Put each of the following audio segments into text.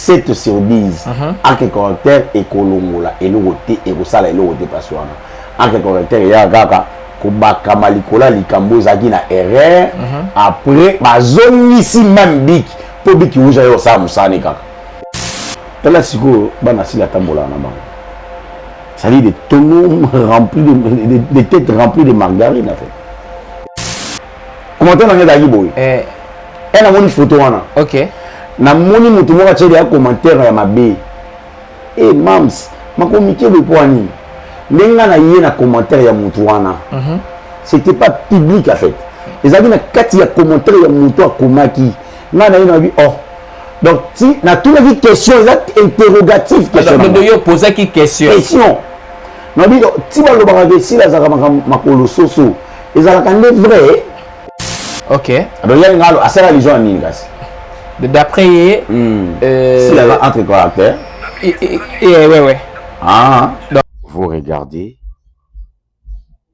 7 sur 10 uh -huh. arc correcteur ekolongola eloko te ekosala eloko te mpasi wana arc correcteur eyaka kaka kobakama likolo ya likambo ezalaki na erreur uh mhm. -huh. après bazongisi mame biki mpo biki uza yo osala mosala ne kaka tala sikoyo bana sili atambolaka na bango c'est-à-dire des tonneaux remplis de, des, des têtes remplies de margarine en fait commentaire na ngai ezalaki boye eh. e namoni foto wana ok namoni moto moko atyeli ya commentaire ya mabe e mams makomikebe mpo ya nini ndenge ngai na ye na commentaire ya moto wana mhm. c'était pas public en fait ezalaki na kati ya commentaire ya moto akomaki ngai na ye nayebi oh donc ti natunaki question eza interrogatif questionyo opozaki question question nayebi ti balobaka ke sila azalaka makolo soso ezalaka nde vrai ok donc yango ngalo asala allusion ya nini kasi d'après ye hmm. euh, si aza entre caractère ouais ouais ah donc, vous regardez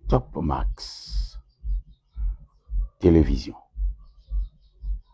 Top Max Télévision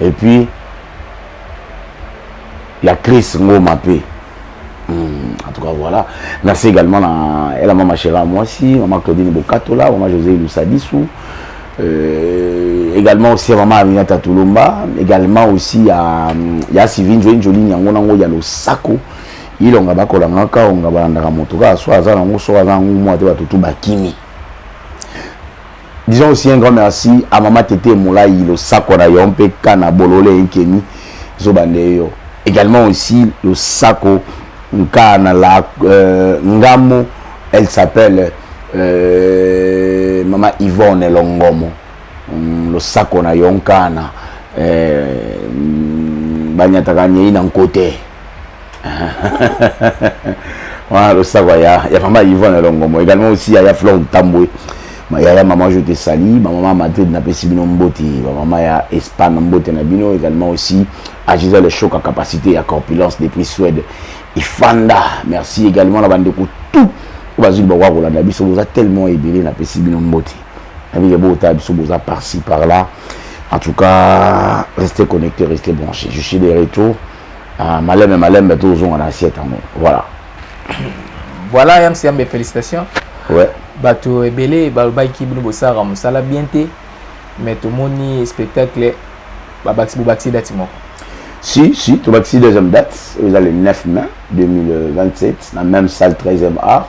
et puis ya Chris Ngoma pe Hmm, en tout cas voilà merci également na ela mama chera mwasi mama claudine bokatola mama josé lusadisu euh, également aussi ya mama aminata tulomba également aussi ya, ya sivine joye njolini yango nango ya losako ilonga bakolangaka onga balandaka moto kaka so aza nango so aza nango mwa te bato tu bakimi Disons aussi un grand merci à Mama Tete Moulayi, le sako na yo mpe kana bolole enkeni zoba nde yo. Également aussi le sako nkana la euh, ngamo elle s'appelle euh, Mama Yvonne Longomo. Mm, le sako na yo nkana euh, banyataka nyei na nkote. wana losako ya ya mama yvonne elongomo également aussi ya ya flore ntambwe yaya maman je te sali bamama madrid napesi bino mbote bamama ya espagne mbote na bino également aussi agisa le choc à capacité ya corpulence depuis suède ifanda merci également na bandeko tout oyo bazwi libakoka kolanda biso boza tellement ebele napesi bino mbote nabike botala biso boza par ci par là en tout cas restez connecté restez branché je suis de retour Ah, malembe malembe tozonga na assiette yango voilà voilà yamsi yambe félicitation ouais. bato ebele balobaki bino bosalaka mosala bien te mais tomoni spectacle babakisi bobakisi dati moko si si tobakisi deuxième date eza le 9 mai 2027 na même salle 13e art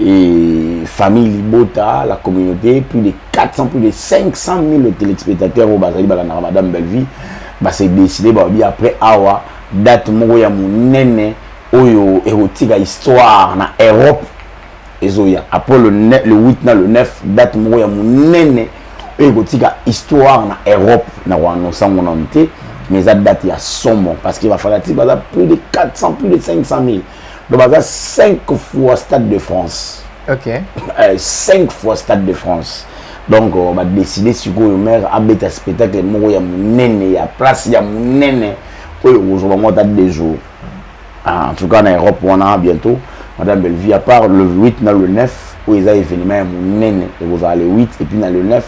et famille libota la communauté plus de 400 plus de 500 000 téléspectateurs oyo bazali balandaka madame bellevie base décide balobi après awa date moko ya monene oyo ekotika histoire na europe ezoya après le, le 8 na le 9 date moko ya monene oyo ekotika histoire na europe na koannonce yango nanu te mais eza date ya somo parce que bafanatique baza plus de 400 plus de 500 000 donc baza 5 fois stade de france ok 5 eh, fois stade de france donc euh, badeside sikoyo maire abeta spectacle moko ya monene ya place ya monene oyo okozwa bango ata deux jours ah, en tout cas na europe wana bientôt madame bellevie à part le 8 na le 9 oyo eza événement ya monene ekozala le 8 et puis na le 9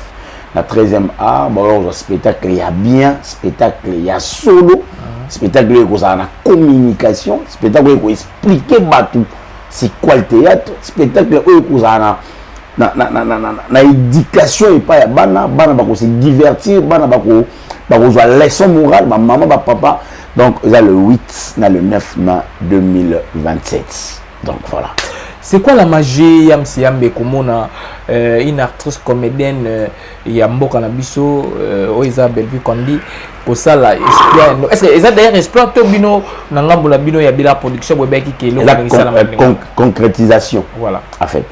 na 13e art baoya kozwa spectacle ya bien spectacle ya solo ah. spectacle oyo ekozala na communication spectacle oyo ekoexplike bato c'est quoi le théâtre spectacle oyo ekozala na na, na, na, na, na, na éducation epai ya bana bana bakose divertir bana bako bakozwa leçon morale bamama bapapa donc eza le 8 na le 9 mai 2027 Donc voilà. C'est quoi la magie ya Msiambe komona euh, une actrice comédienne euh, ya mboka na biso euh, oyo eza Bellevue Kondi kosala exploit no. Est-ce que eza d'ailleurs exploit to bino na ngambo na bino ya bila production boye baki kelo la con, concrétisation. Voilà. En fait,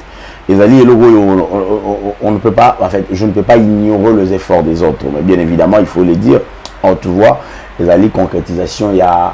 ezali eloko oyo on, on, on ne peut pas en fait, je ne peux pas ignorer les efforts des autres, mais bien évidemment, il faut le dire, on te voit ezali concrétisation ya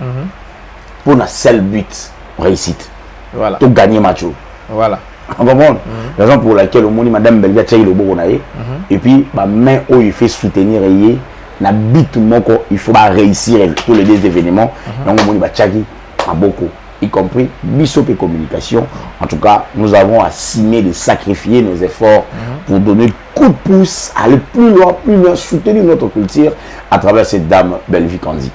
mhm. pour na seul but réussite voilà. to gagner match voilà comprendre mhm. raison pour laquelle omoni madame belga atiaki loboko na ye mhm. et puis bamain oyo efe soutenir ye na but moko il faut baréussir tous les deux événements mhm. yango omoni batiaki maboko y compris biso mpe communication en tout cas nous avons assigné de sacrifier nos efforts pour donner coup de pouce aller plus loin plus loin soutenir notre culture à travers cette dame bellevue candy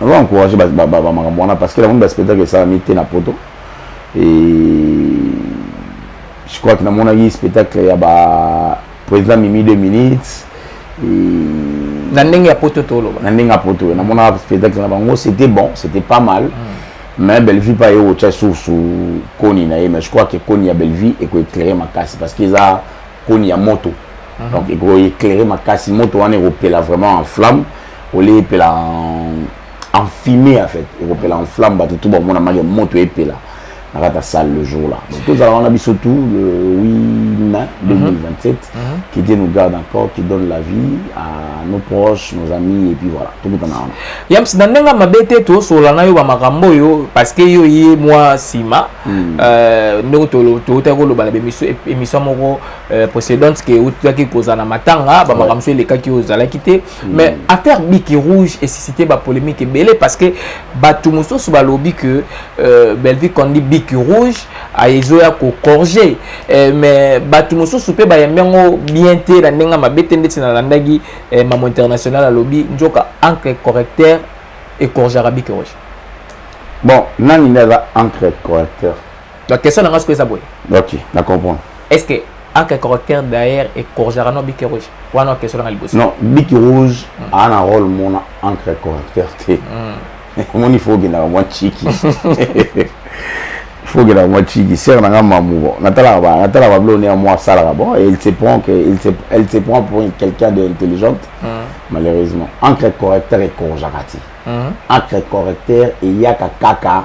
nazo encourage bamakambo wana parce que namoni baspectacle esalami te na poto je crois que namonaki spectacle ya ba président mimi 2 minutes na ndenge ya poto toloba na ndenge ya poto oyo namonaka spectacle na bango c'était bon c'était pas mal mm. mais bellevue mpe aye kotya source koni na ye mais je crois que koni ya bellevue ekoeclaire makasi parce que eza koni ya moto mm -hmm. donc ekoeclaire makasi moto wana ekopela vraiment en flamme olie epela en fumée en fait ekopela en flamme bato tu bamona make moto epela na kati ya salle le jour là donc tozala wana biso tout le 8 mai 2027 qui Dieu nous garde encore qui donne la vie à nos proches nos amis et puis voilà tokutana wana yams na ndenge mabe te tosolola na yo bamakambo oyo parce que yo ye mwa nsima hmm. euh, ndenge toutaki koloba na émission moko euh, précédente ke outaki kozala na matanga bamakambo so elekaki oyo ozalaki te Mm. mais affaire biki rouge esuscite bapolémique ebele parce que bato mosusu balobi que euh, bellevue kondi biki rouge ezoya kocorge euh, mais bato mosusu mpe bayambi yango bien te na ndenge mabe te ndeti nalandaki euh, mamo international alobi nzoka encre correcteur ecorgeaka biki rouge bon nani nde aza encre correcteur donc question na nga sikoyo eza boye ok na comprendre est ce que aka caractère d'ailleurs ecorgeaka no biki rouge wana question na nga liboso non biki rouge mm. aa na role mona encre correcteur te mm. omoni fo okendaka mwa chiki fo okendaka mwa chiki sere na nga mamu bon natalaka ba natalaka bablo one ya mwa asalaka bon et il se prend que il se elle se prend pour quelqu'un de intelligente mm. malheureusement encre correcteur ecorgeaka te encre correcteur eyaka kaka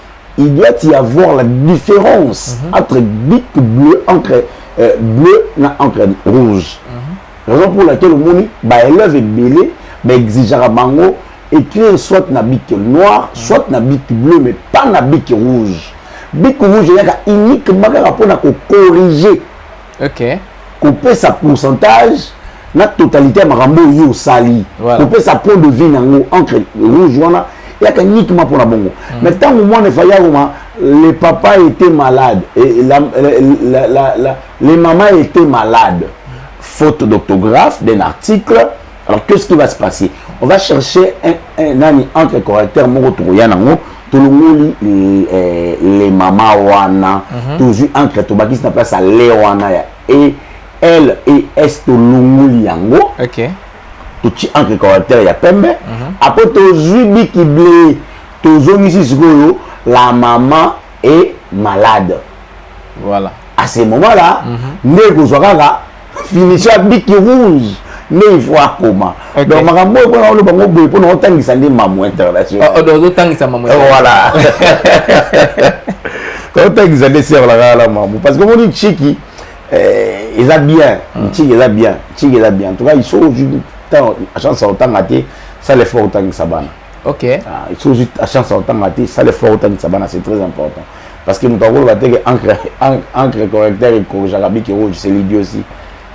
il doit y avoir la différence mm -hmm. entre bic bleu encre euh, bleu na encre rouge mm -hmm. raison pour laquelle omoni baélève ebele baexigeaka bango écrire soit na bic noir mm -hmm. soit na bic bleu mais pas na bic rouge bic rouge eyaka uniquement kaka mpona kocorrige okay. kopesa pourcentage na totalité ya makambo oyo yo osali voilà. kopesa point de vue nango entre rouge wana yaka uniquement mpona bongo mm. mais ntango mwana efali akoma le papa était malade et la, la, la, la, les mamans étaient malades faute d'orthographe d'un article alors qu'est-ce qui va se passer on va chercher un, un, un, un entre correcteur moko tokoya nango tolongoli eh, le mama wana mhm. tozwi encre tobakisi na place ya le wana ya e l e s tolongoli yango totyi encre caractère ya pembe mhm. apres tozwi biki ble tozongisi sikoyo la mama e malade voilà à ce moment là mhm. nde ekozwa kaka finition ya biki rouge nde il faut akoma donc makambo oyo mpona oloba ngo boye mpona otangisa nde mamu internationalotangisa mamu voilà otangisa nde serlakaka la mamu parce que omoni chiki eh, eza bien hmm. chiki eza bien chiki eza bien en tout cas iso ozwi chance ya kotanga te sala effort otangisa bana ok ah, iso ozwi chance ya kotanga te sala effort otangisa bana c'est très important Parce que moto akoloba te que encre, encre correcteur ekorjaka biki rouge, c'est l'idiotie.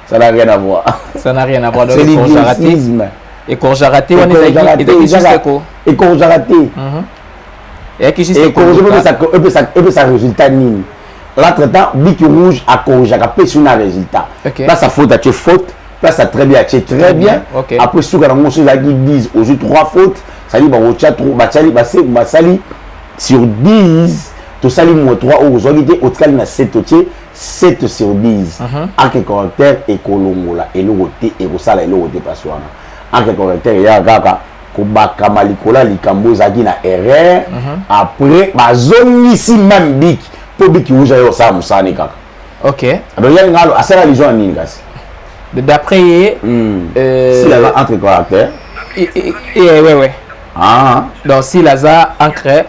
Ça n'a rien à voir. Ça n'a rien à voir. C'est l'idiotisme. Ekorjaka te wana ezalaki juste ko. Ekorjaka te. Mhm. Eyaki juste ko. Ekorjaka pe sa résultat nini? L'autre temps, biki rouge akorjaka pe sur na résultat. Là sa faute, tu faute. Là ça très bien, tu très bien. Après suka na ngoso ezalaki 10, ozui 3 fautes. Ça dit ba ocha trop, ba chali, ba se, ba sali. sur 10 tosali mua 3 oyo ozwaki te otikali na 7 otie 7 sur 10 arc correcteur ekolongola eloko te ekosala eloko te pasi wana arc correcteur eyaka kaka kobakama likolo ya likambo ezalaki na erreur après bazongisi meme biki mpo biki uja yo osala mosala ne kaka ok donc yangi ngalo asala lizo ya nini kasi d'après ye hmm. euh, si aza entre correcteur eh, eh, eh, ouais, ouais. Ah. Donc s'il aza encre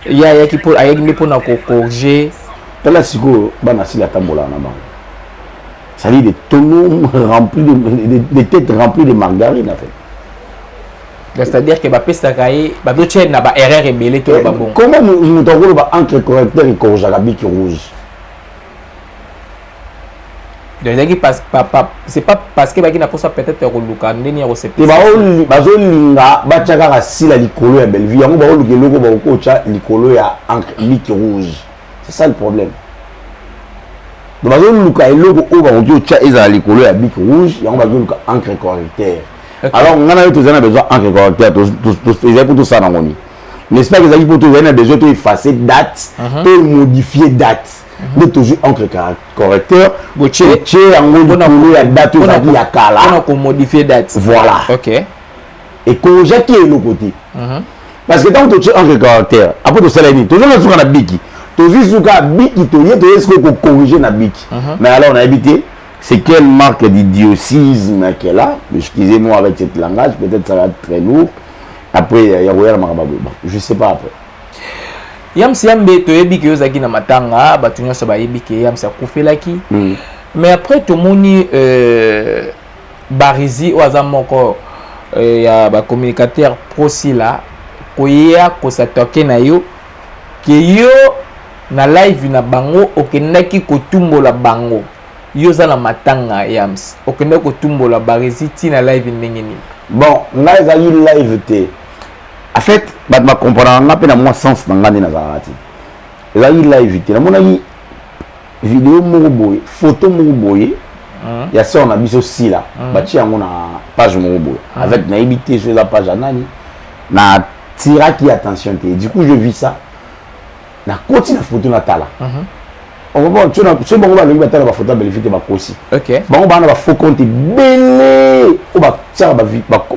ye ayaki mpo ayaki nde mpona kocorge tala sikoyo bana sila atambolaka na bango c'est-à-dire des tonneaux remplis de, des, des têtes remplies de margarine en fait c'est-à-dire que bapesaka ye bazotya na baerreur ebele to babongo comment moto akoloba encre correcteur ekorjaka biki rouge donc ezalaki c'est pas parce que baki na posa peut-être ya koluka ndeni ya kosepela bazolinga batya kaka sila likolo ya bellevue yango baoluka eloko bakokotya likolo ya encre bic rouge c'est ça le problème donc bazoluka eloko oyo bakoki otya ezala likolo ya bic rouge yango bazoluka encre correcteur alors ngai na yo tozali na besoin encre correcteur ezali mpo tosala nango nini n'est-ce pas ezalaki mpo tozali na besoin to effacer date mhm. to modifier date mhm. nde tozwi encre correcteur botie yango likolo ya date oyo ezalaki ya kala mpona komodifie date voilà ok ekolojaki eloko te mhm. parce que ntango totie encre correcteur apo tosala nini tozonga nsuka na biki tozwi suka biki toye toye sikoyo kocorrige na biki mhm. mais alors nayebi te c'est quelle marque d'idiosisme qu'elle a excusez-moi avec cette langage peut-être ça va être très lourd après ya koya na makambo bon je sais pas après yamsi yambe toyebi ke ozalaki na matanga bato nyonso bayebi ke yamsi akufelaki mm. mais après tomoni euh, barizi oyo aza moko euh, ya bacommunicateur prosila koya kosatoke na yo ke yo na live na bango okendaki kotumbola bango yo oza na matanga yams okende kotumbola barezi ti na live ndenge nini bon ngai ezalaki live te en fait bato bakomprendaka ngai mpe na mwa sens na ngai nde nazalaka te ezalaki live te namonaki video moko boye foto moko boye ya sœur na biso sila batie yango na page moko boye avec nayebi te so eza page ya nani na tiraki attention te du coup je vis ça na koti na foto na tala okomona tso na tso bango balingi batala ba foto ya Bellevue te bakosi bango bana ba faux compte ebele oyo batiaka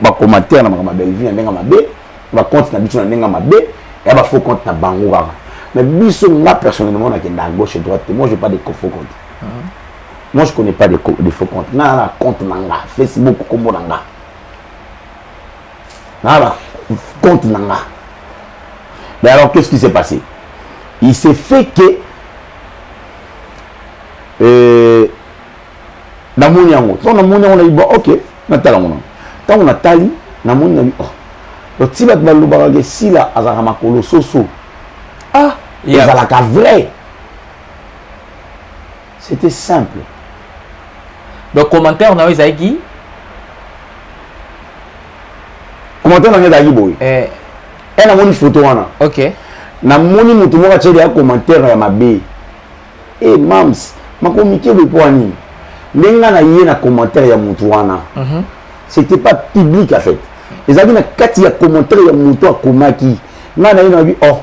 ba commentaire na makambo ya Bellevue na ndenge mabe ba compte na biso na ndenge mabe ya ba faux compte na bango kaka mais biso nga personnellement nakenda à gauche et droite te moi je pas de faux compte ah. moi je connais pas de, de faux compte nga na compte na nga Facebook kombo na nga na ba compte na nga mais alors qu'est-ce qui s'est passé il s'est fait que euh, namoni yango ntango namoni yango nayiba ok natala yango nango ntango natali namoni nabi oh. loti bato balobaka ke sila azalaka makolo soso ah ezalaka vrai C'était simple. Donc commentaire na yo ezalaki commentaire na ngai ezalaki boye eh. e namoni foto wana ok namoni moto moko atyeli ya commentaire ya mabe e eh, mams makomike boye mpo ya nini ndenge ngai na ye na commentaire ya moto wana mm -hmm. c'était pas public en fait ezalaki na kati ya commentaire ya moto akomaki ngai na ye na bi oh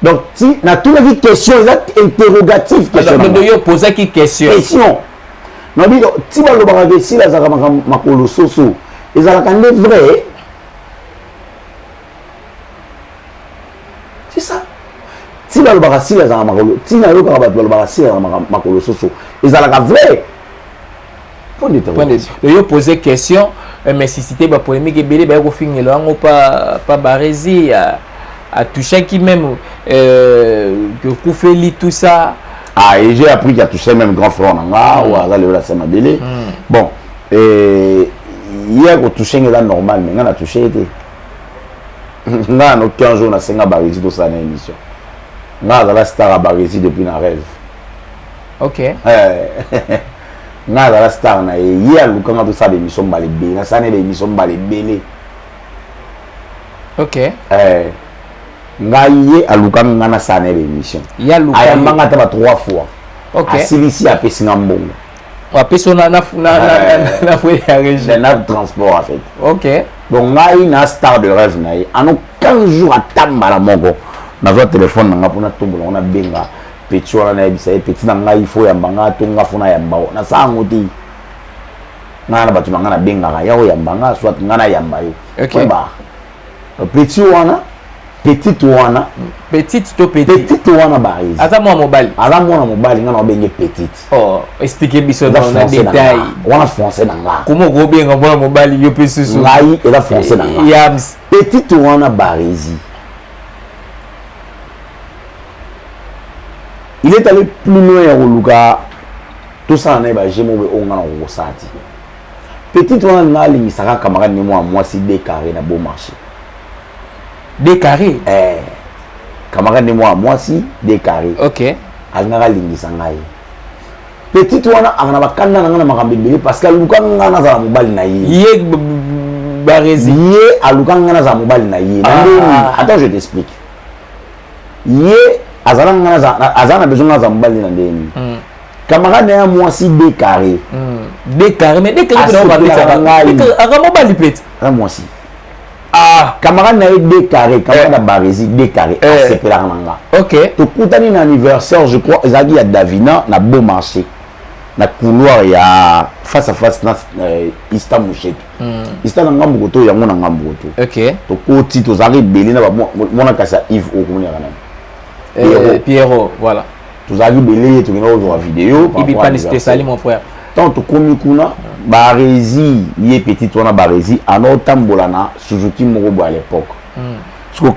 donc ti natunaki question eza interrogative questiondodo yo opozaki question question nabi ti balobaka ke sila azalaka makambo makolo soso ezalaka nde vrai c'est ça ti balobaka sila azalaka makolo ti nayokaka bato balobaka sila azalaka makolo soso ezalaka vrai Point de interrogation. Donc, yo poser question, euh, mais si c'était pas polémique, ebele ba ko fingelo yango pas pas barezi à à toucher qui même euh que Koufeli tout ça. Ah, et j'ai appris qu'il a touché même grand frère nanga mm. ou aza le la sama belé. Mm. Bon, et hier ko toucher ngela normal mais ngana toucher été. Nga no 15 jours na senga barezi to ça na émission. Nga azala star à barezi depuis na rêve. ok eh. nga azala star na ye ye aluka nga tosala bemission mbala ebele nasala na bemission mbala ebele ok eh. nga ye aluka nga nasala na bemission ayamba nga ata ba trois fois okay. asilisi apesi nga mbongo apesi yo na fue ya régie na transport en fait ok donc ngai na star de rêve na ye ano 15 jours ata mbala moko nazwa telefone na nga mpo natombola ngo nabenga petit wana nayebisa ye petit na ngai fo yamba nga to nga fo nayamba yo na saa yango te ngai na bato na ngai nabengaka ya oyamba nga soit ngai nayamba yo ba petit wana petite wana petite to petite petite wana barise aza mwana mobali aza mwana mobali ngai nabenge petite oh explique biso na détail wana français na nga koma okobenga mwana mobali yo mpe susu ngai eza français na nga petite wana barisi il est allé plus loin ya koluka tosala na ye baje moko oyo ngai nakokosala ti petite wana ngai alingisaka camarade ne mwa mwasi decarre na beau marché decarre eh, camarade ne mwa mwasi decarre okay. alingaka alingisa ngai petite wana aka na bakanda na ngai na makambo ebele parce que aluka ngai nazala mobali na ye ye barezi ye aluka ngai nazala mobali na ye na ah. ndeni attends je t'explique ye azala nga azala na besoin nga aza mobali na ndenge nini hmm. camarade na ya mwasi de carré hmm. de carré mais de carré pena obabetaka ngai aka mobali pete na mwasi ah camarade na ye de carré camarade na eh. baresi de carré eh. asepelaka na nga ok tokutani na anniversaire je crois ezalaki ya davina na beau marché na couloir ya face à face na euh, ista mouchete ista na ngambo koto yango na ngambo koto tokoti tozalaka ebele na mwana kasi ya ive oyo komonaka nani eh, pierro voilà tozalaki ebele tokenda kozwa video ibipanispesali mon frère ntango tokomi kuna barezi ye petite wana barezi anaotambola na suzuki moko boye à l'époque hmm. siko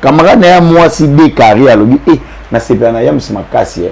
camarade na ya mwasi dekari alobi e eh, nasepela na yamsi makasi eh.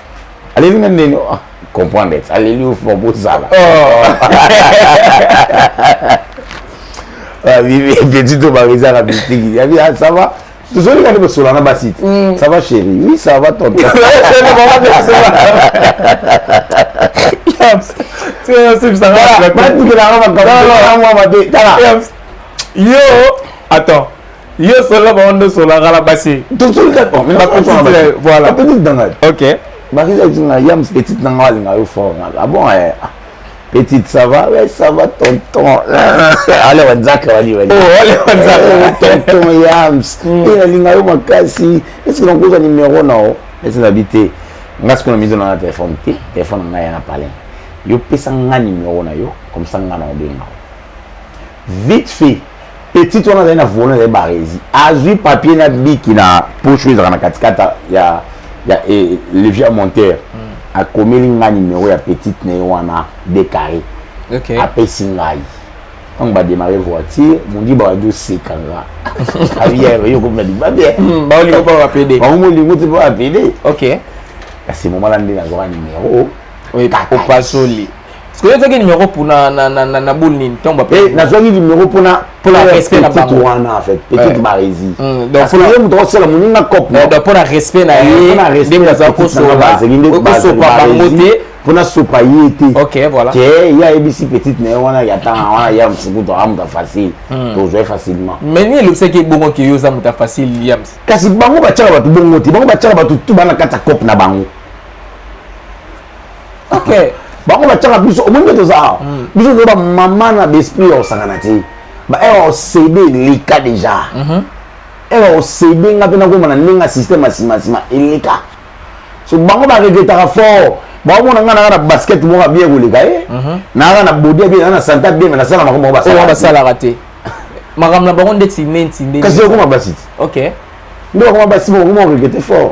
aleli nga ndeni ah, comprendre ete aleli yo fo bozala oh. ah, petit to barizaka bitiki yabi ah, ça va tozoli kani bosola na basi te mm. ça va chéri oui ça va tonton batukelanga makambo mwa mabe tala yo attends yo solo bango nde osolaka na basi petite na ngai ok bakisa petite na yams petite na ngai alinga yo fort ngai abon ah eh, ah. petite ça va ouais ça va tonton ale wanzaka wali wali oh ale wanzaka eh, tonton yams hmm. et eh, alinga yo makasi est ce que nakozwa numéro na yo est ce que nabi te ngai sikoyo na mizo na na telefone te telefone na ngai ya na palin yo pesa ngai numéro na yo comme ça ngai na obenga vite fait petite wana azali na volant ezali barezi azwi papier na biki na poche oyo ezalaka na katikati ya, ya eh, levier monteur mm. akomeli ngai nimero ya petite na ye wana de carré okay. apesi ngai ntango bademare voiture mondi baadi oseka nga abiyayokomina libabe baolingo mpo bapede bango molingo te mpo bapede ok kasi momala nde nazwaka nimero opasoli Parce que ozaki numéro pour na na na na, na boule nini ntango bape eh, nazwaki numéro mpo na mpo na respect na bango wana en fait petite barezi hmm, donc mpo na ye moto akosala moninga cop eh, donc mpo na respect na eh, ye ndenge aza kosopa bango te mpo nasopa ye te ok voilà ke ye ayebisi petite na ye wana ya ntanga wana ya mfukutu aa moto facile hmm. tozwai facilement mais nini elobisaki ebongo ke yo oza moto facile yams kasi bango batyaka bato bongo te bango batyaka bato tu bana kati ya cope na bango okay. bango batyaka biso omoni nde toza awa mm. biso toza bamama na baesprit ya kosangana te baewa osede eleka deja mhm. ewa osede nga mpe nakoma na ndenge ya systeme ya simasima eleka so bango baregretaka fort baomona nga nanga na basket moko abie koleka ye eh? mhm. nanga na bodi abie nanga na santa bie me nasala makambo moko oh, basalaka te makambo na bango ndeti nenti ndekasi okoma basi te ok nde bakoma basi moko okoma regrete fort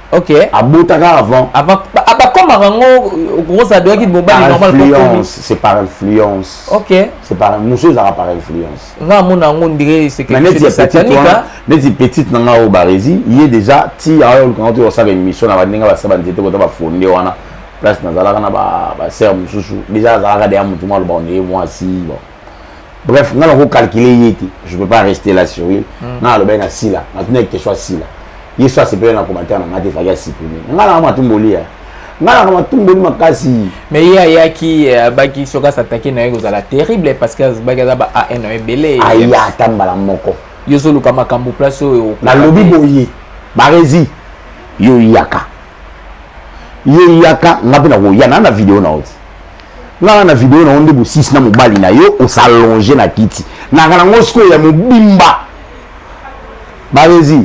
ok abotaka avant avant abakomaka yango okokosa adoyaki mobali normal influence c'est par influence ok c'est par mosu ezalaka par influence nga amona yango ndire sekesanika neti petite na nga oyo baresi ye déjà ti ayo olukanga to osala émission na bandenge basala banzete kota bafonde wana place nazalaka na basere mosusu déjà azalaka deya motu mwa aloba oneye mwasi bon bref nga nako calculer ye te je peux pas rester là sur ye hmm. nga alobaki na sila natuna question ya sila ye so asepeli na commentaire na nga te faki asiprime nga nanga matumboli ya nga nanga matumboli makasi mais ye ayaki eh, abaki soki asatake na ye kozala terrible parce que azbaki aza ba an na ebele aya ata mbala moko yo ozoluka makambo place oyo nalobi boye barezi yo yaka yo yaka nga mpe nakoya na na video na oti nana na video na yo nde bosisi na mobali na yo osalonge na kiti naka nango sikoyo ya mobimba barezi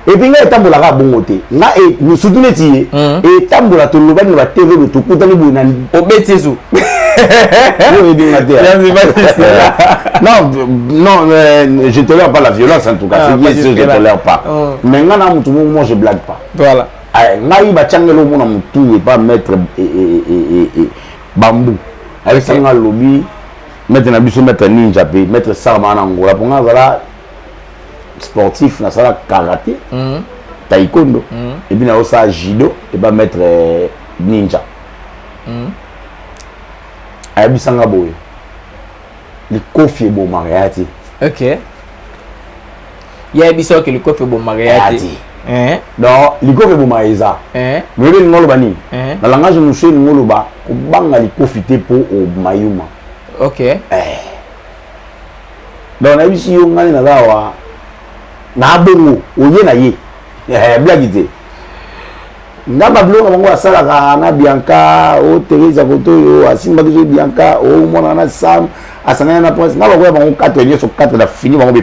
epi ngai etambolaka bongo te nga e, surtout neti ye hmm. etambola tolobani na batv do tokutani boye na obeti ezo oyebinga te non non euh, je tolère pas la violence en tout cas ah, c'est bien sûr je tolère pas oh. mais nga na motu moko moi je blague pas voilà Eh, ngai batiangela omo na motu epa maître eh, eh, bambu ayebisa nga alobi maître na biso maître ninja mpe maître sarma na angola mpo nga azala sportif nasala karate mhm. taikondo mhm. epuis nayosala judo epa maître ninja mhm. ayebisa nga boye likofi ebomaka ya te ya biso ke likofi ebomaka ya te eh? donc likofi ebomaka eza eh? moyebi elingi oloba nini eh? na langage mosusu elingi oloba kobanga likofi te mpo omayuma ok donc nayebisi yo ngai naza awa na bongo oye na ye blagi te nga babiloko bango asalaka na bianca o teresa kotoyo asimbaki so bianca o mwana na sam asangani na prince nga bakoya bango katre nyonso katre na fini bango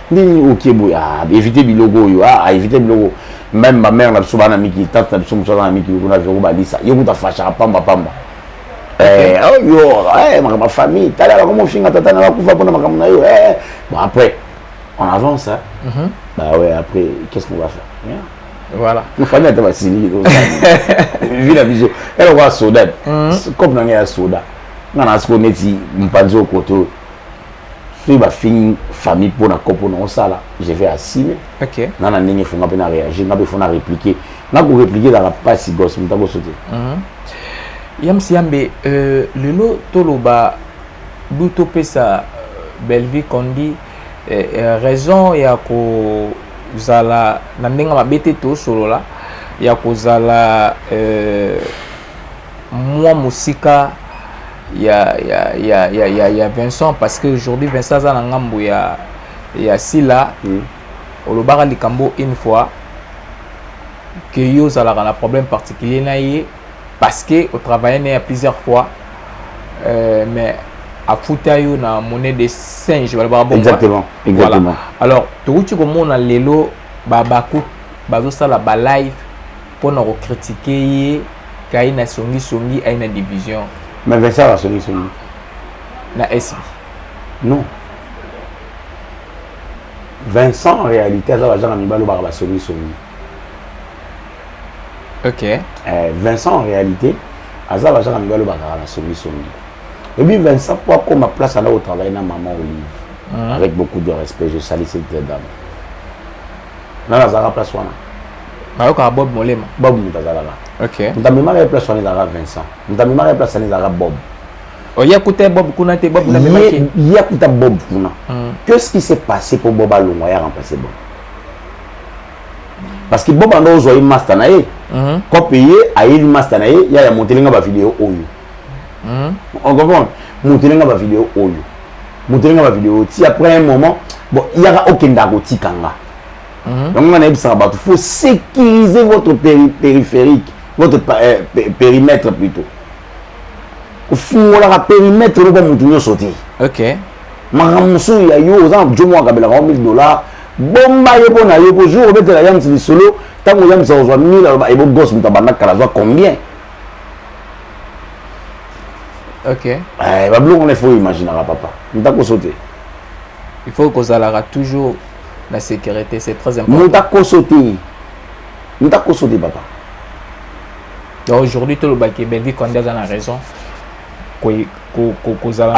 nini okie boye ah, éviter biloko oyo ah, ah, éviter biloko même ba mère na biso bana miki tata na biso mosusu aza na miki kuna vero balisa ye kuta fashaka pamba pamba eh, oyo oh, eh, makambo ya famille tala bakoma ofinga tata na bakufa mpona makambo na yo eh, bon après on avance hein? mm -hmm. bah ouais après qu'est-ce qu'on va faire yeah. voilà famille ata basili vi na biso eloko ya soda cope na ngai ya soda nga na siko neti mpanzi okoto soki bafingi famille mpo na kopo na osala je vais assume okay. nga na ndenge fonga mpe na réagir nga mpe fo na répliquer nga korépliquer ezalaka mpasi gos moto akoso te mhm. yamsi yambe euh, lelo toloba du topesa euh, bellevie condi euh, euh, raison ya kozala na ndenge mabe te tosolola ya kozala euh, mwa mosika ya, ya, ya, ya, ya, ya vincent parce que aujourd'hui vincent aza na ngambo ya, ya sila mm. olobaka likambo une fois que yo ozalaka na problème particulier na ye parce que otravaille na ye plusieurs fois euh, mais afuta yo na monnaie de singe balobaka bongo exactement exactement voilà. alors tokuti komona lelo babaku bazosala balive pona ko critique ye kayi na songi songi ayi na division mais Vincent ba songi songi na esi non Vincent en réalité aza bajanga mibalo baka basongi songi ok eh, Vincent en réalité aza bajanga mibalo bakaka na songi songi et puis Vincent po akoma place ana kotravaille na maman Olive mm. avec beaucoup de respect je salue cette dame nani azalaka place wana nayokaka bob molema bob moto azalaka okay. moto amemaka ye place wana ezalaka vincent moto amemaka ye place wana ezalaka bob oye oh, kuta bob kuna te bob ye kuta bob kuna hmm. que ce qui s'est passé mpo bob alongwa ya remplace bob parce que bob anda ozwa ye master na ye hmm. kope ye ayeli master na ye ya ya motelinga bavideo oyo hmm? on comprend motele nga bavideo oyo motele nga bavideo ti après un moment bon yaka okenda akotika nga hmm? yango nga nayebisaka bato faut sécuriser votre péri périphérique votre euh, périmètre plutôt ofungolaka périmètre eloko ya motu nyonso te okay. makambo mosusu ya yo oza na jomo akabelaka 1000 dollar bomba ye mpo na yo mpo jour obetela yamisi lisolo ntango yamisi akozwa 1000 aloba ebo gos moto abanda kala azwa combien okay. eh, babiloko wana ifo oimaginaka papa ntakoso te il faut kozalaka toujours na sécurité c'est très important ntakoso te ntakoso te papa donc aujourd'hui tolobaki belvi konde aza na raison kozala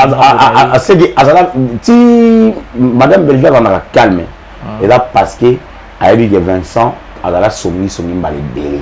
aseki azala ti madame belvi azalaka calme ah. eza parce que ayebi ke vincent azala songisongi mbala ebele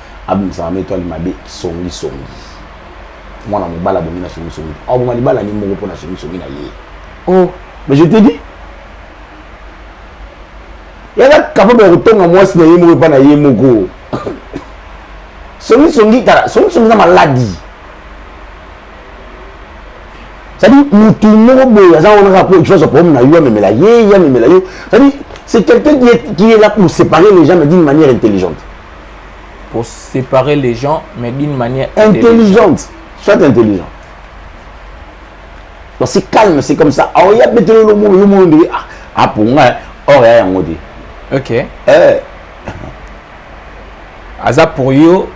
abimisaka meto ali mabe songi songi mwana mobali abongi na songi songi aboma libala ni moko mpo na songi songi na ye oh mais je te dis yaka capable ya kotonga mwasi na ye moko epa na ye moko songi songi tala songi songi eza maladi cest à mutu moko boye aza wana kaka po tuazwa problème na yo amemela ye ye amemela yo cest à c'est quelqu'un qui est, qui est là pour séparer les gens mais d'une manière intelligente pour séparer les gens mais d'une manière intelligente soit intelligent donc c'est calme c'est comme ça alors il y a betelo le mot yo mot de ah pour moi or ya yango dit OK eh aza pour yo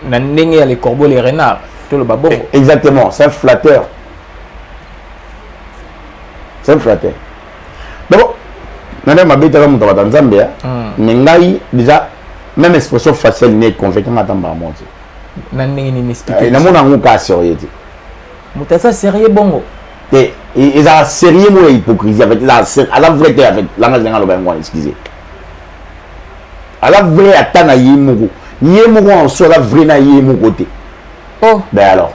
na ndenge ya les corbeaux les renards tout le babongo eh, exactement c'est un flatteur c'est un flatteur donc nani amabetaka moto abata nzambe ya hmm. mais ngai déjà même expression faciale ne econvainca nga ata mbala moko te na ndenge nini explique eh, namona yango kaa sérieux te moto aza sérieux bongo te ezala sérieux moko ya hypocrisie en fait ezala aza vrai te en fait langage ndenge aloba yango wana excuse aza vrai ata na ye moko ye moko en soi aza vrai na ye moko te oh ben alors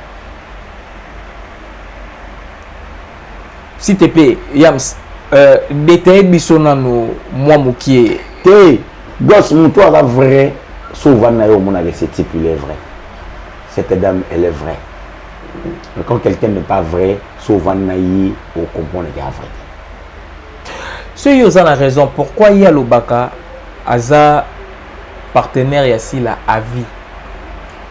s'il te plaît yams euh, detaille biso nanu mwa mokie te gos moto aza vrai so ovandi na yo omonaka ese type il est vrai cette dame elle est vraie mais quand quelqu'un n'est pas vrai so ovandi na ye okomprendre ke a vrai te soki oza na raison pourquoi ye alobaka aza partenaire ya sila avis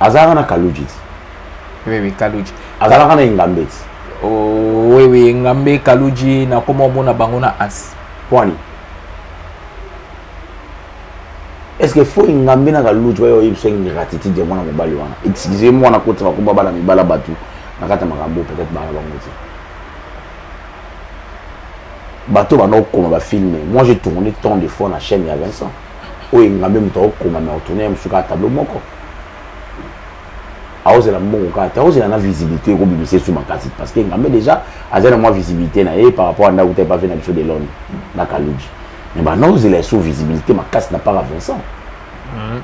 azalaka na kaluji ti oui oui kaluji azalaka na engambe ti oh, oui oui engambe kaluji nakoma omona bango na as pwani est ce que fo engambe na kaluji bayo oyebisa ingratitude ya mwana mobali wana excuse mwana koti bakoba bana mibala bato na kati ya makambo peut-être bana bango ti bato bana okoma bafilme moi j'ai tourné tant de fois na chaîne ya vincent oyo engambe moto akokoma na otourne ya mosusu kaka tableau moko aozela mbongo kaka te aozela na visibilité ekobimisa esu makasi parce que engambe déjà aza na mwa visibilité na ye par rapport ya ndako te epafe na biso de londres na kaluji mais banaozela esu visibilité makasi na para vincent mhm.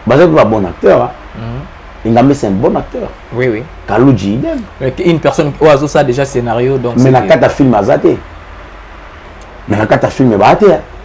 baza mpe babon acteur mhm. engambe c'est un bon acteur oui, oui. kaluji idem une personne oyo azosala déjà scénario donc mais na kata film aza te mais na kata film baa te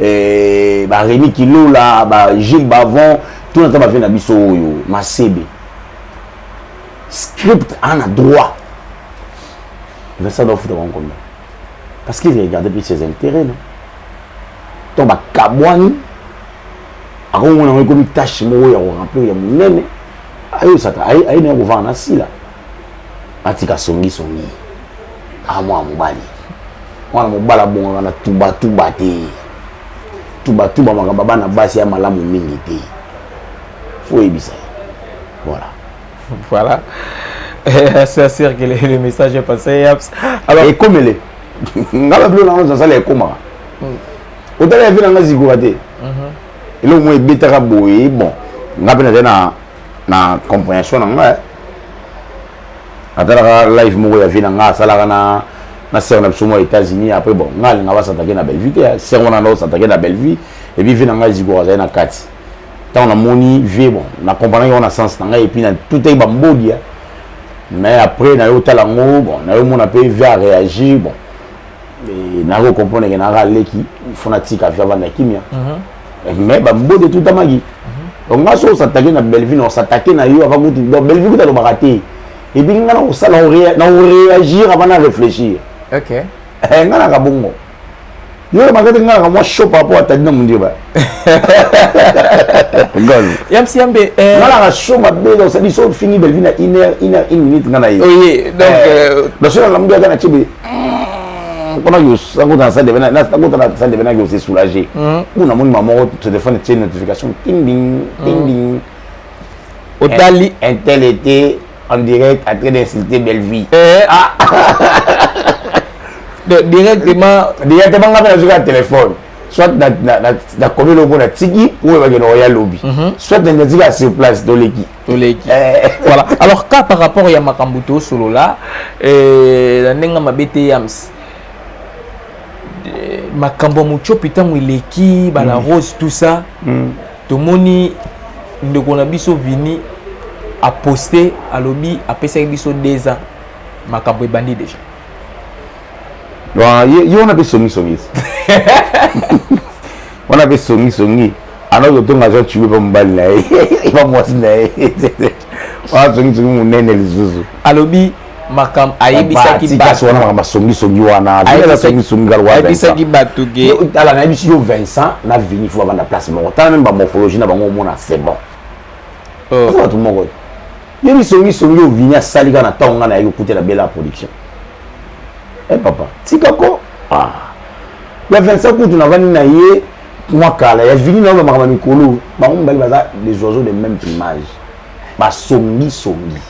eh, ba Remy Kilola ba Gilles Bavon tout na temps ba vie na biso oyo masebe script ana droit Vincent doit foutre bango combien parce qu'il regardait plus ses intérêts non to bakabwani akomona yango ekomi tâche moko ya koremplir ya monene ayo sata aye na ya kovanda na sila atika songi songi aa mwana mobali mwana mobali abongaka na tubatuba te tubatuba makambo bana basi ya malamu mingi te fo oyebisa voilà voilà ça circule le message est passé yaps alors ekomele nga babilo nango nazala ekomaka hmm. otala ya vi na nga zikoka te mhm. eloko moko ebetaka boye bon nga mpe nazali na comprehension na nga natalaka live moko ya vie na nga asalaka na na sœur na biso mwa états-unis après bon nga alinga basatake na bellevue te sœur wana nda osatake na bellevue epuis vie na ngai ezikoka azali na kati ntango namoni vie bon na comprendaki yango na sens na ngai epuis na tutaki bambodia mais après nayo otala yango bon nayo mona mpe vie a réagir bon nayo comprendre ke naka aleki fona tika vie avanda kimia mhm. mais babode etutamaki mhm. donc nga so osatake na bellevue na osatake na yo avant kutu donc bellevue kutu alobaka te epuis nga na kosala na koreagir avant na réfléchir ok eh, nga naka bongo yo olobaka te nga naka mwa chaud par rapport ya tadina mondieba yamsi yambe eh. nga naka chaud mabe donc sadi so ofingi bellevue na une heure une heure une minute nga na ye oye donc eh, euh, naso nalamuki ata na tiebe mpona sango na sande bena sango tana sande bena yo se soulager kuna moni mama moko téléphone tie notification ding ding ding ding otali un tel était en direct en train d'insulter Bellevue eh ah directement directement nga pena zoka téléphone soit na na na na komelo mpo na tiki oyo bakende oya lobi soit na tiki sur place toleki toleki eh. voilà alors ka par rapport ya makambo tosolola eh, na ndenge mabe te yams eh, makambo ya mocopi ntango eleki bala mm. rose tout ça mm. tomoni ndeko na biso vini aposte alobi apesaki biso deux ans makambo ebandi déjà yo wana mpe songisongisi wana mpe songi songi anaki kotonga aza tube mpa mobali na ye mpa mwasi na ye wana songi songi monene lisusu alobi makambo ayebisaki batu wana makambo asongi songi wana vina songi songi kala ayebisaki batu ke tala na yebisi yo Vincent na Vini faut banda place moko tala même ba morphologie na bango omona c'est bon oh. bato moko Yo bisongi songi oyo Vini asali kaka na ntango ngai nayaki kokutela Bella production. Eh papa, tika ko. Ah. Ya Vincent kutu navandi na ye mwa kala ya Vini nao makambo ya mikolo bango mibali baza les oiseaux de même plumage basongi songi.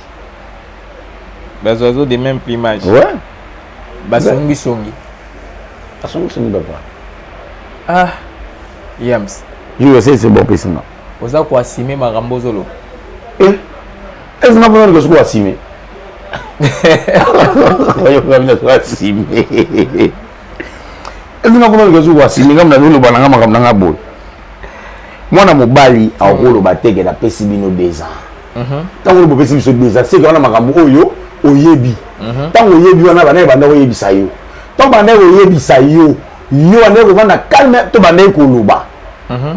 Bas oiseaux de même plumage. Ouais. Basongi songi. Basongi songi papa. Ah. Yams. Yo c'est bon pesina. oza ko assumer makambo ozo loba eh est ce na pona ndeko soko assumer yo ngabi na soko assumer est ce na pona ndeko soko assumer ngabi na loba na nga makambo na nga boye mwana mobali akoloba te ke napesi bino deux ans mhm. ntango lobo opesi biso deux ans seke wana makambo oyo oyebi mhm. ntango oyebi wana bana ebanda koyebisa yo ntango banda koyebisa yo yo bandaki kovanda calme to bandaki koloba mhm.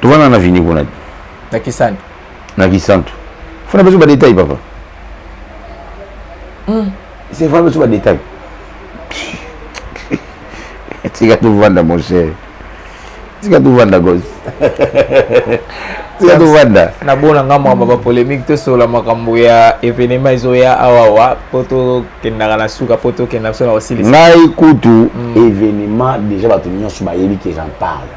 tovanda na vini kuna na kisantu na kisantu fona biso badetail papa hmm. c'est fona biso badetail tika tovanda mon cher tika tovanda gosi tika tovanda nabona nga mwamba bapolémique tosola makambo ya événement ezoya awawa mpo tokendaka na suka mpo tokenda biso na kosilisa ngai kutu hmm. événement déjà bato nyonso bayebi que j'en parle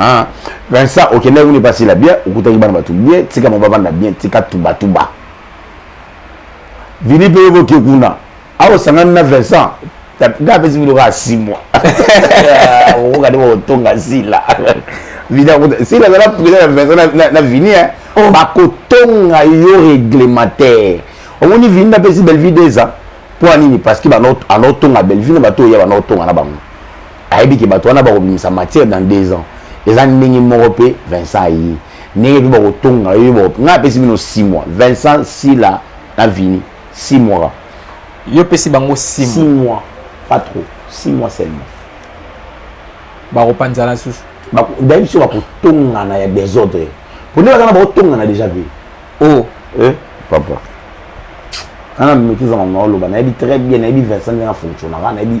Ah, Vincent, okendaki kuna epasi la bien, okutaki bana bato bien, tika mobaba na bien, tika tuba tuba. Vini mpe yo boke kuna, awa osangani na Vincent, nga apesi bino kaka six mois. Okoka nde kotonga Sila. Vini akuta, Sila azala président ya Vincent na, na Vini, hein. Oh. Bakotonga yo réglementaire. Omoni Vini napesi Bellevue deux ans, mpo ya nini? Parce que banaotonga Bellevue na bato oyo ya banaotonga na bango. ayebi ke bato wana bakobimisa matière dans deux ans eza ndenge moko mpe vincent aye ndenge mpe bakotonga yo bako ngai apesi bino six mois vincent sila na vini six mois yo pesi bango six mois pas trop six mois seulement bakopanzana susu dayebi biso bakotongana ya desordre pone baza na bakotongana déjà mpe o oh. eh, papa ana maîtrise ya mama oloba nayebi très bien nayebi vincent ndenge afonctionnaka nayebi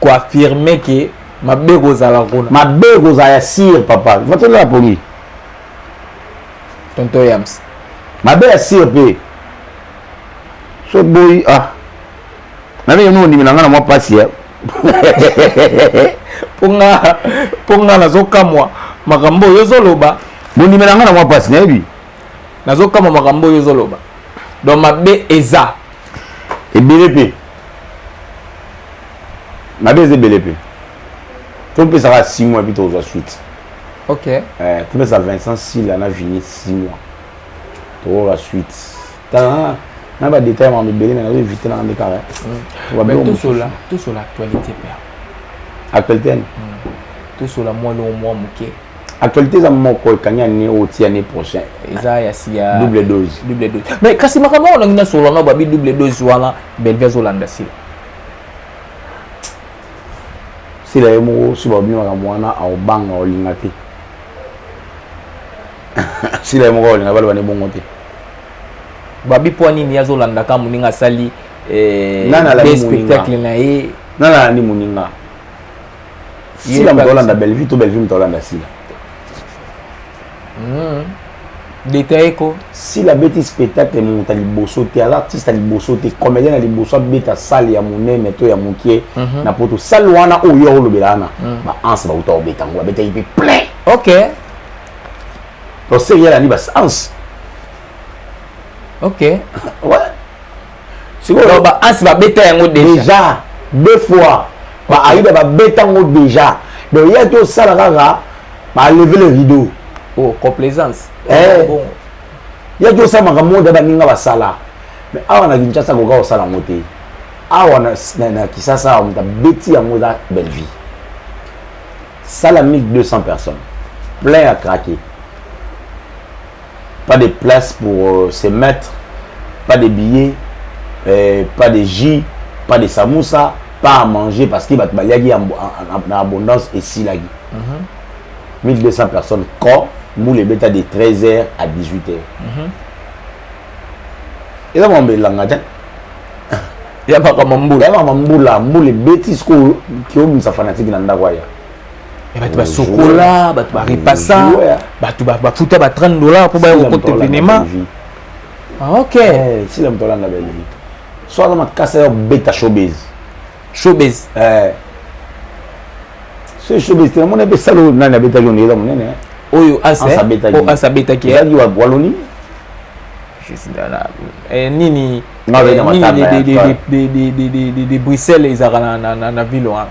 ko affirmer que mabe kozala kuna mabe kozala ya sir papa vatela ya poli tonto yams mabe ya sir mpe so boyi ah nabe yeno ondimi na ngai na mwa mpasi ya mpo ngai nazokamwa makambo oyo ozoloba bondimi na ngai na mwa mpasi nayebi nazokamwa makambo oyo ozoloba donc mabe eza ebele mpe mabe eza ebele mpe topesaka 6 mois epi tokozwa suite ok eh, topesa vincent sila na vini 6 mois tokoyoka suite tala na badetail mama ebele me nazo évite nanga nde kaka tosola tosola actualité père actualité ani tosola mwa longo mwa moke actualité eza moko ekangi ane oyo ti ane prochain eza ya siya double dose double dose mais kasi makambo yango nangi nasolola na babi double dose wana belvi azolanda sila sila ye moko soki babi makambo wana aobanga olinga te sila ye moko olinga baloba ne bongo te babi mpo nini azolanda ka moninga asali eh, spectacle na ye nana alandi moninga sila moto olanda bellevue to bellevue moto olanda sila hmm. detaye ko sila abeti spectacle moto ya liboso te aza artiste ya liboso te comédien ya liboso abeta sale ya monene to ya mokie mhm. na poto sale wana oyo yo olobela wana hmm. baanse bauta kobeta yango babetaki mpe plein ok toserielani basanse ok ouais sikoyo ba as babeta yango déjà deux fois ba ayuda babeta yango déjà donc ye ati osala kaka baleve le rideau oh, complaisance eh, bon. ye ati osala makambo oyo da baninga basala mais awa na kinshasa koka kosala yango te awa na, na, na kisasa awa moto abeti yango eza bellevie sala 1200 personnes plein ya craquer pas de place pour euh, se mettre pas de billets euh, pas de jus pas de samoussa pas à manger parce que bato baliaki na abondance esilaki mm -hmm. 1200 personnes corps mbula ebeta de 13 heures à 18 heures mm -hmm. eza makambo elanga te ya makambo mbula ya makambo mbula mbula ebeti sikoyo kiobimisa fanatiki na ndako aya ya bato basokola bato barepasa bato bafuta ba 30 dollar mpo baya kokota evenema ah, ok eh, sila moto alanda bellevie so aza makasa ya kobeta showbase showbase eh. so showbase te namona mpe sala oyo nani abetaki ondeki eza monene eh. oyo asa abetaki ezalaki waloni nini nini de bruxelles ezalaka na ville wana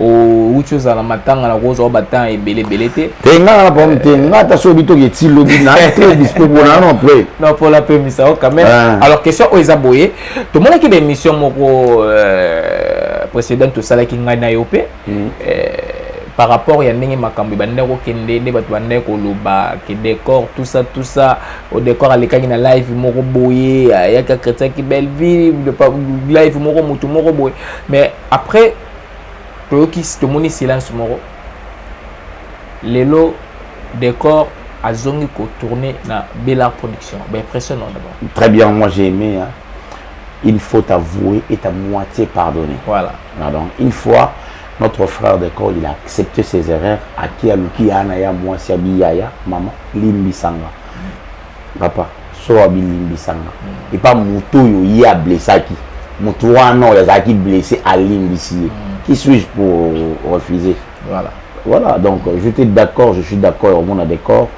owuti ozala matanga na kozwa ba temps ebele ebele te te nga na pam te nga ta so bito ke ti lobi na te dispo bona non après non pour la paix misa quand même ah. alors question oyo eza boye to mona ki ba émission moko euh, précédente to sala ki nga na yo pe mm. euh, par rapport ya ndenge makambo ebandaki kokende nde bato bandaki koloba ke décor tout ça tout ça o décor alekaki na live moko boye ayaki akretiaki belleville live moko motu moko boye mais après toyoki tomoni silence moko lelo décor azongi ko tourner na Bella production ba impression non d'abord très bien moi j'ai aimé hein une faute avouée est à moitié pardonnée voilà ah, donc une fois notre frère de corps il a accepté ses erreurs à qui a luki ana ya moi si abiyaya maman limbisanga papa sowa bilimbisa nga mm. epa moto oyo ye ablesaki moto wana oyo azalaki blesse alimbisi ye mm. qui suis-je pour refuser voilà voilà donc j'étais d'accord je suis d'accord au monde d'accord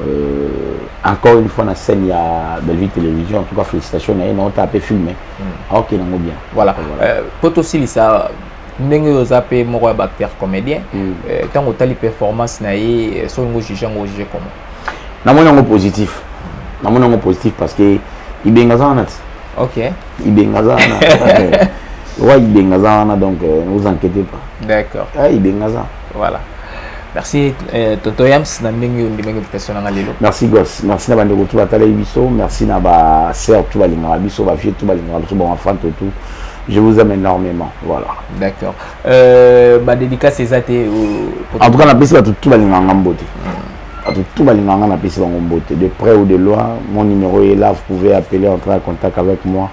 euh, encore une fois na scène ya bellevue télévision en tout cas félicitations na ye naota ape filme mm. aokende yango bien voilà mpo euh, tosilisa ndenge oyo oza mpe moko ya baacteur comédien ntango mm. euh, otali performance na ye euh, soki ngo juge yango ojuge comment namoni yango positif namoni yango positif parce que ibenga aza wana ti ok ibenga aza wana wa ibenga aza wana donc euh, ne vous inquiétez pas d'accord ah, ibenga aza voilà merci euh, toto yams na ndenge ondimaki invitation nanga lelo merci gos merci na bandeko tu batalaki biso merci na basœur tu balingaka biso bavieux tu balingaka biso bamafante tout je vous aime énormément voilà d'accord Euh, ba dédicace eza te euh, en tout cas napesi bato tu balingaka nga mbote bato tu balingaka nga napesi bango mbote de près ou de loin mon numéro est là vous pouvez appeler entrer en contact avec moi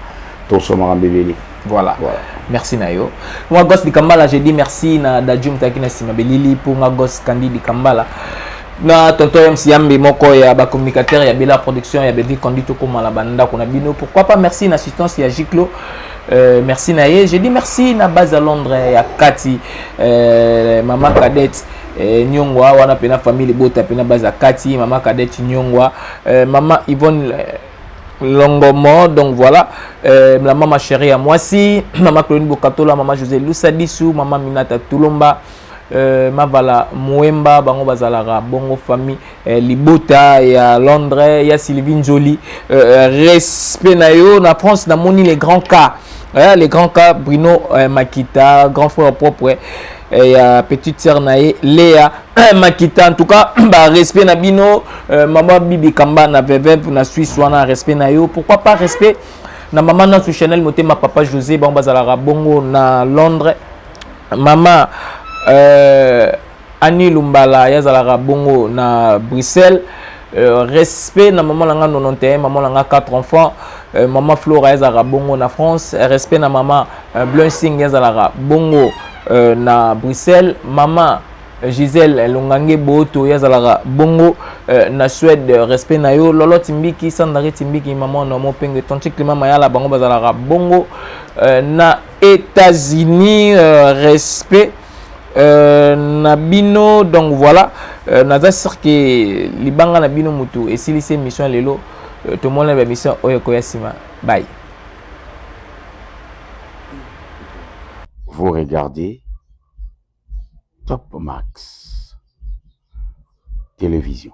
toso makambo ebele voilà. voilà merci na yo nga gos dikambala je dis merci na dadju motaki na nsima belili mpo nga gos kandi dikambala na tonton mc yambe moko ya bacommunicateur ya bela production ya belvi condi tokomala bandako na bino pourquoi pas merci na assistance ya giclo Euh, merci na ye je dis merci na base à londres eh, ya kati euh, mama cadette eh, nyongwa wana mpe na famille libota mpe na base ya kati mama cadette nyongwa euh, mama yvonne euh, longomo donc voilà euh, la mama chérie ya mwasi mama claudine bokatola mama josé lusadisu mama minata tulomba euh, mavala muemba bango bazalaka bongo famille Eh, libota ya londres ya sylvie njoli euh, euh, respect na yo na france namoni les grands cas eh, les grands cas bruno eh, makita grand frère propre ya petite sœur na ye lea makita en tout cas ba respect na bino euh, mama bibi kamba na vevep na suisse wana respect na yo pourquoi pas respect na mama nasu chanel motema papa josé bango bazalaka bongo na londres mama euh, Annie Lumbala ye azalaka bongo na Bruxelles euh, respect na maman na nga 91 maman na nga 4 enfants euh, maman Flora ye azalaka bongo na France respect na maman euh, Blunsing ye azalaka bongo euh, na Bruxelles maman euh, Gisèle Longange Boto ye azalaka bongo euh, na Suède euh, respect na yo Lolo Timbiki Sandari Timbiki maman na mo penge Tonti Climat Mayala bango bazalaka bongo euh, na États-Unis euh, respect Euh, na bino donc voilà euh, naza sur ke libanga na bino motu esilisi émission lelo euh, tomona ba mission oyo ekoya nsima bai vous regardez top max télévision